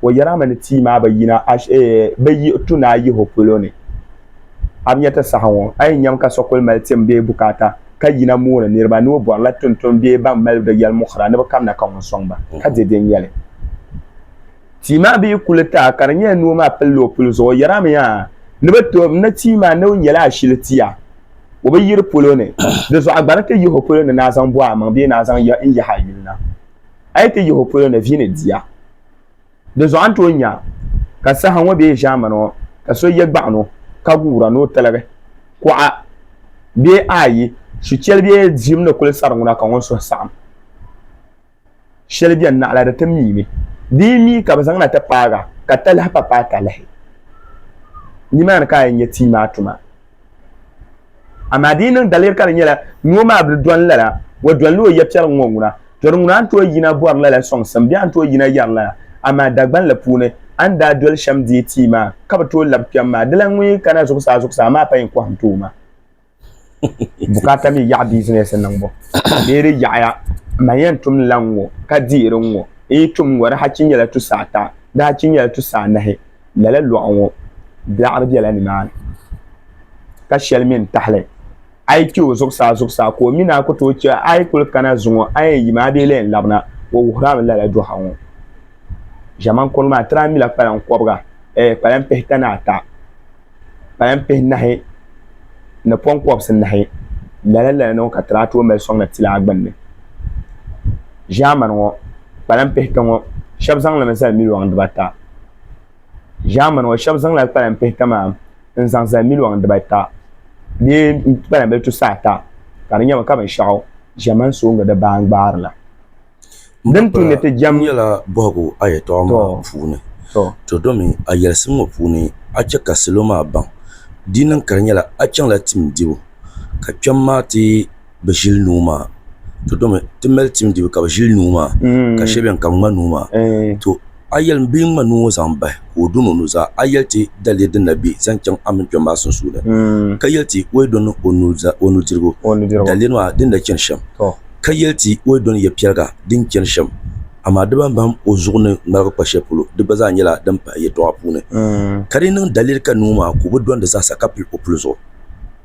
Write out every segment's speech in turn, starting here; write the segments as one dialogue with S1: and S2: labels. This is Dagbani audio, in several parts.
S1: O yɛri a mi ni tia maa bi yina bi yiɣi tu ni a yihi o polo ni. A bi nya ti saha ŋɔ, a yɛn nyami ka so kuli mali tim bee bukaata ka yina mooni niriba ni o bɔrila tuntun bee ban mali di yɛlimuɣira ni bɛ kamina ka ŋun sɔŋ ba, ka di din yɛli. Tia maa bi yi kuli taai ka di nyɛla ni o maa pilila o puli zuɣu, o yɛri a mi yaa ni bɛ ti o mi ni tia maa ni o nyɛla ashili tia, o bi yiri polo ni, di zuɣu a gba ni ti yihi o polo ni ni a zaŋ bɔh amaŋ bee ni a zaŋ n yahi a yuli na. A yi ti yihi o polo ni, vi ni di a. Di zuɣu a ni tooi nya ka saha ŋɔ bee ʒiɛmani ŋɔ ka so ye gbaɣino ka guura ni o tiligi kuɣa bee ayi shi cheli bee diim ni kuli sari ŋuna ka ŋun suhu saɣim sheli beni naɣila di ti miimi. Di yi mi ka bɛ zaŋna ti paaga ka talahi pa paai talahi. Nimaani ka a yɛn nya tii maa tuma. Amaa di yi niŋ daliri ka di nyɛla ni o maa bi dɔni lala, o dɔnila o yɛpiɛri ŋ-ŋɔ ŋuna. Tɔri ŋuna a ni tooi yina bɔri lala sɔŋsim bee a ni tooi yina yɛri lala. Amaa Dagbanli puuni, a ni daa doli shɛm deei ti yi maa ka bi tooi labi kpɛm maa, dila ŋun yi kana zuɣusaa zuɣusaa maa pa yi ni kɔhi n-ti o maa. Bukaata mi yaɣi bizinɛsi niŋbu bee di yaɣiya, man yɛn tum ni la ŋ-ŋɔ ka dihiri ŋ-ŋɔ. N yi tum ŋ-ŋɔ di hachi nyɛla tusa ata, di hachi nyɛla tusa anahi. lala lɔɣu ŋɔ biɛɣiri bela nimaani ka shɛli mi n-tahili a yi che o zuɣusaa zuɣusaa ka o mi naan ku tooi che a yi kuli kana zuŋɔ a ni yɛn yim a bee la yɛn labina o wuhiri a mi lala dɔɣu ŋɔ ʒiɛman kɔŋɔ maa tiri a mi la kpalaŋ kɔbiga ɛɛh kpalaŋ pihita ni ata kpalaŋ pihinahi ni pɔŋkɔbisi nahi lala lala ni ŋɔ ka tiri a tooi mali sɔŋ na tila a gbunni ʒiɛmani ŋɔ kpalaŋ pihita ŋɔ shɛba zaŋ li mi zali miliɔn dibaa ata. ʒaamani ŋɔ shɛba zaŋla kpalan bihi kamani n-zaŋ zali miliɔn dibaata bee kpalan bili tusa ata ka di nyɛba ka binshɛɣu ʒiɛmani sooŋa di baa n-gbaari la. Din tu ni ti jɛm. N nyɛla bɔhigu a
S2: yɛtɔɣa maa puuni, to domi a yɛlisim ŋɔ puuni a chɛ ka salo maa baŋ di niŋ ka di nyɛla a chaŋla tim dibu ka kpɛm maa ti bi ʒili nuu maa to domi ti mali tim dibu ka bi ʒili nuu maa ka shɛli bɛni ka bi ŋma nuu maa to a yɛli n bee n ŋma nuu ŋɔ zaŋ bahi ka o dini o nuzaa a yɛli ti daliya din na bɛ zaŋ chaŋ a mini kpɛm maa sunsuuni ka yɛli ti o yi dini o nudirigu daliya maa din na chani shɛm ka yɛli ti o yi dini yɛ piɛliga din chani shɛm amaa di bani bahim o zuɣu ni ŋmaligi kpa shɛli polo di gba zaa nyɛla din pahi yɛltɔɣa puuni ka di niŋ daliri ka nuu maa ka o bi dɔndi zaasa ka pili o puli zuɣu.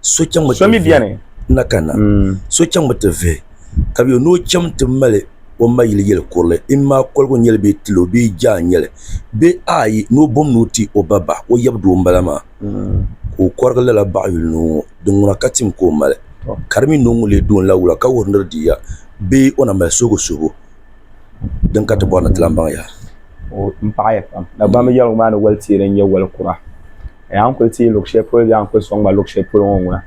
S2: so chaŋmi ti vihi
S1: na kanna
S2: so chaŋmi ti vihi ka bɛ yo ni o chaŋ ti mali o ma yili yeli kurili imaa koligu n nyeli bee tilo bee jaa n nyeli bee ayi ni o bom ni o ti o ba bahi o yab doo m bala maa ka o korigi lala baɣa yuli noo ŋɔ din ŋuna ka tim ka o mali ka di mi noo ŋun lee doon la wula ka wuhiri ni di diya bee o na mali suhibu suhibu din ka ti bɔri ni ti lan baŋ
S1: yaha. A yaa n kuli ti yi luɣi shɛli polo yaa n kuli sɔŋ ma luɣi shɛli polo ŋɔ ŋuna.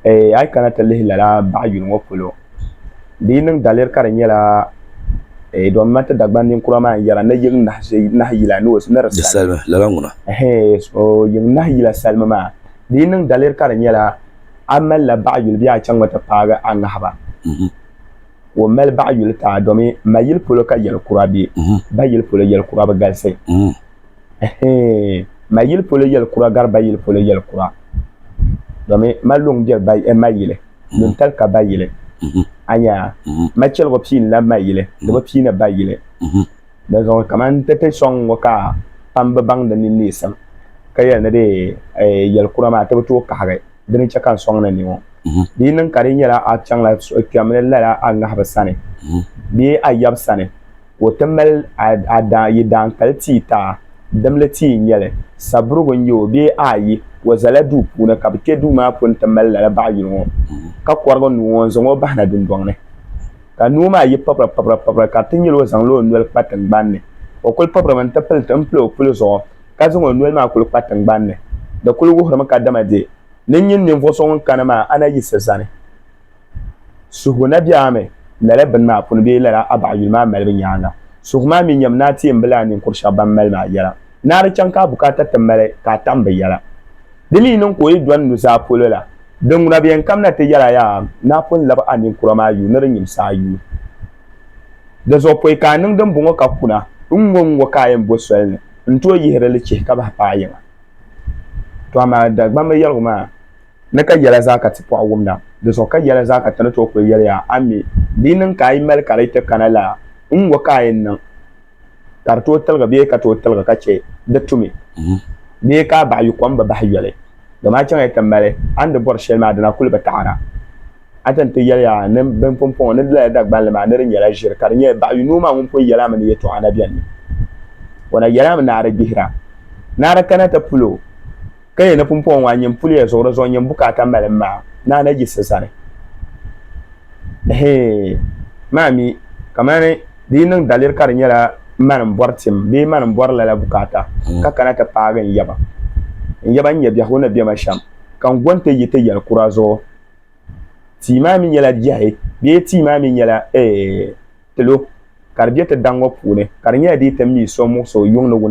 S1: Ee, a yi kana ti lihi lala baɣa yuli ŋɔ polo, di yi niŋ daliri ka di nyɛla, ee, dɔn ma ti Dagban ninkura maa n-yɛra ni yiŋ nahi yila ni o, ni di salimi. Lala ŋuna.
S2: Ɛhɛɛ, so
S1: yiŋ nahi yila salimi maa, di yi niŋ daliri ka di nyɛla, a mali la baɣa yuli bee a chaŋ mi ti paagi a ŋahiba? Mm-hmm. Ka o mali baɣa yuli taa domi ma yili polo ka yɛli kura be, mm-hmm. ba yili polo yɛli kura bi galisi. Mm-hmm. ma yili polo yɛli kura gari ba yili polo yɛli kura domin ma luŋ biɛri ba eh, ma yili luŋ tali ka ba yili mhm. anya mhm. ma chɛligu pii la ma yili di mhm. bi pii ni ba yili di zuɣu kamani tete sɔŋ ŋɔ ka pam bi baŋ di nini nisim ka yɛli ni de eh, yɛli kura maa ti bi tooi kahigi di ni chɛ ka n sɔŋ ni ni ŋɔ di yi niŋ ka di nyɛla a chaŋla kpɛmli lala a ŋahibu sani bee a yab sani ka o ti mali a yi daankali tia taha dimli tia n nyɛli saburigu n nyɛ o bee ayi o zala duu puuni ka bi kpɛ duu maa puuni ti mali lala baɣa yuli ŋɔ ka korigi nuu ŋɔ n zaŋ o bahina dundɔŋ ni ka nuu maa yi pabira pabira pabira ka di ti nyɛla o zaŋla o noli kpa tingbanni o kuli pabira mi n ti pili n pili o puli zuɣu ka zaŋ o noli maa kuli kpa tingbanni di kuli wuhiri mi ka dama dee ni n nyini ninvuɣu so ŋun kani maa a na yiɣisi zani. Suhigu na biɛɣu mi lala bini maa puni bee lala Abaɣa yuli maa malibu nyaaŋa. Suhigu maa mi nyam ni a teembi lala ninkur shɛba ban mali maa yɛla ni a di chaŋ ka a bukaata ti mali ka a tam bɛ yɛla. Di mi niŋ ka o yi dɔni nuzaa polo la, di ŋuna bɛ yɛn kamina ti yɛl a yaa ni a pun lab a ninkura maa yuui ni di nyimsi a yuui. Dizuɣu pɔi ka a niŋ dimbɔŋɔ ka kuna, N ŋɔ n ŋɔ ka a yɛn bo soli ni n tooi yihiri li chihi ka bahi paai yiŋa. To amaa Dagbamba yɛligu maa. ni ka yɛla zaa ka ti pɔɣi wumda di zuɣu ka yɛla zaa ka ti ni tooi kuli yɛli ya, a mi di niŋ ka a yi mali ka di ti kana la, n ŋ-ŋɔ ka a yɛn niŋ ka di tooi tiligi bee ka tooi tiligi ka chɛ di tumi bee ka a baɣi yu kom bi bahi yoli? Dama a chaŋ ya ti mali a ni di bɔri shɛli maa dina kuli bi taɣira. A ti ni ti yɛli ya ni bini pumpɔŋɔ ni di lala Dagbanli maa ni di nyɛla ʒiri ka di nyɛ baɣi yu noo maa ŋun pun yɛli a mi ni yɛtɔɣa na beni mi. O na yɛli a mi ni a di gbihira ni a di kana ti pul o. Ka ya ni pumpɔŋɔ ŋɔ a nyin puli ya zuɣu di zuɣu nyin bukaata mali m maa ni a na yiɣisi zani. Ɛhee, maa mi kamani di yi niŋ daliri ka di nyɛla mani m-bɔri tim bee mani m-bɔri lala bukaata ka kana ti paagi n yaba. N yaba n-nyɛ biɛhigu ni bɛ ma shɛm ka n go nti yi ti yɛli kura zuɣu. Tia maa mi nyɛla biɛhi bee tia maa mi nyɛla ɛɛh pilo ka di be ti daŋ ŋɔ puuni ka di nyɛla di yi ti mi so muɣisi o yuŋ ni wuni.